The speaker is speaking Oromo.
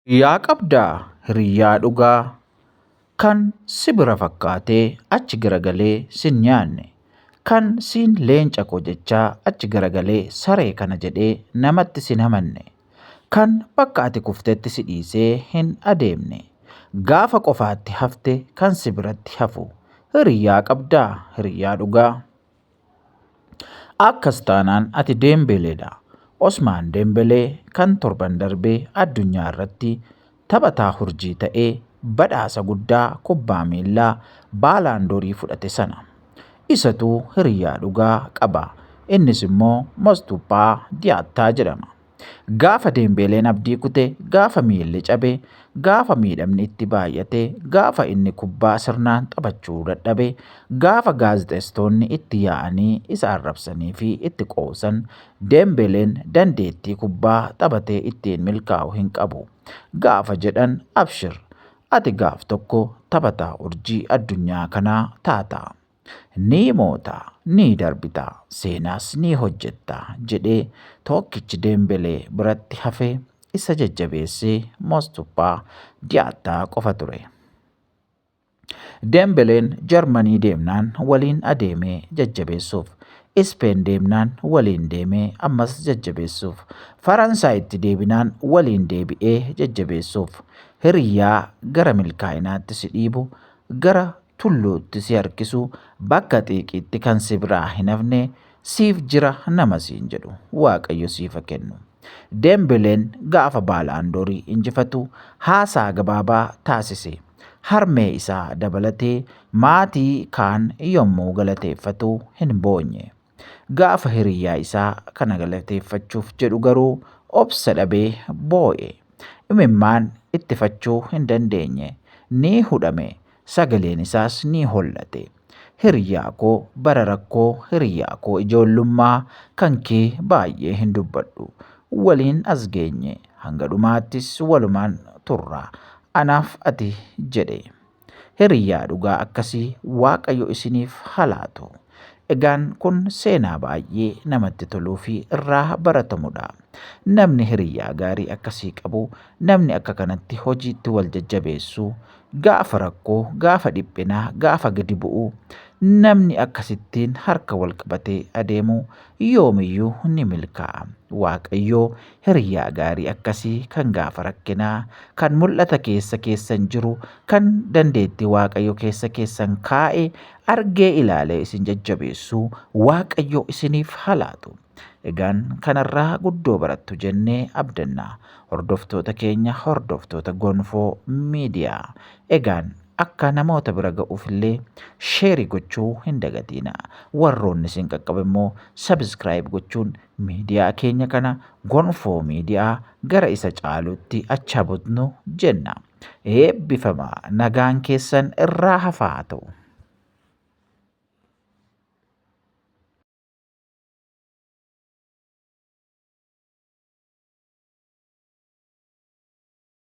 Hiriyyaa qabdaa hiriyyaa dhugaa Kan si bira fakkaatee achi garagalee sin nyaanne Kan siin leenca koo jechaa achi garagalee saree kana jedhee namatti sin hamanne Kan bakka ati kuftetti si dhiisee hin adeemne Gaafa qofaatti hafte kan si biratti hafu Hiriyyaa qabdaa hiriyyaa dhugaa. Akkas taanaan ati Deembeeleedha. Osmaan Deembelee kan torban darbe addunyaa irratti taphataa hurjii ta'e badhaasa guddaa kubbaa miillaa Baalaandoorii fudhate sana. Isatu hiriyyaa dhugaa qaba. Innis immoo Mostuphaa Diyaattaa jedhama. Gaafa Deembeeleen abdii kute, gaafa miilli cabe, gaafa miidhamni itti baay'ate, gaafa inni kubbaa sirnaan taphachuu dadhabe, gaafa gaazexeessitoonni itti yaa'anii isa arrabsanii fi itti qoosan, Deembeeleen dandeettii kubbaa taphatee ittiin milkaa'u hin qabu. Gaafa jedhan abshir ati gaaf tokko taphataa urjii addunyaa kanaa taata. Ni moota, ni darbita, seenaas ni hojjetta jedhee tokkichi Deembelee biratti hafe isa jajjabeesse Mostuppaa Diyaattaa qofa ture. Deembeleen Jarmanii deemnaan waliin adeemee jajjabeessuuf, Ispeen deemnaan waliin deemee ammas jajjabeessuuf, Faransaayitti deebinaan waliin deebi'ee jajjabeessuuf, hiriyyaa gara milkaa'inaatti si dhiibu, gara tulluutti si harkisu, bakka xiiqiitti kan si biraa hin hafne siif jira nama siin jedhu Waaqayyo siifa kennu. Dembeleen gaafa Baalaandoorii injifatu haasaa gabaabaa taasise. Harmee isaa dabalatee maatii kaan yommuu galateeffatu hin boonye. Gaafa hiriyyaa isaa kana galateeffachuuf jedhu garuu obsa dhabee boo'e. Imimmaan ittifachuu hin dandeenye. Ni hudhame. Sagaleen isaas ni hollate. Hiriyyaa koo bara rakkoo hiriyyaa koo ijoollummaa kan kee baay'ee hin dubbadhu. Waliin as geenye. Hanga dhumaattis walumaan turra. Anaaf ati jedhe. Hiriyyaa dhugaa akkasii Waaqayyo isiniif halaatu. Egaan kun seenaa baay'ee namatti toluu fi irraa baratamudha. Namni hiriyyaa gaarii akkasii qabu, namni akka kanatti hojiitti wal jajjabeessu, gaafa rakkoo, gaafa dhiphinaa, gaafa gadi bu'u, namni akkasittiin harka wal qabatee adeemu yoomiyyuu ni milkaa'a. Waaqayyoo Hiriyaa gaarii akkasii kan gaafa rakkinaa, kan mul'ata keessa keessan jiru, kan dandeettii Waaqayyo keessa keessan kaa'e argee ilaalee isin jajjabeessu Waaqayyo isiniif haa laatu. Egaan kanarraa guddoo barattu jennee abdanna. Hordoftoota keenya hordoftoota Gonfoo Miidiyaa. Egaan akka namoota bira ga'uufillee sheerii gochuu hin dagatiina. Warroonni isin qaqqabe immoo sabiskiraayib gochuun Miidiyaa keenya kana gonfoo miidiyaa gara isa caalutti achaa butnu jenna. Eebbifama nagaan keessan irraa hafaa ta'u.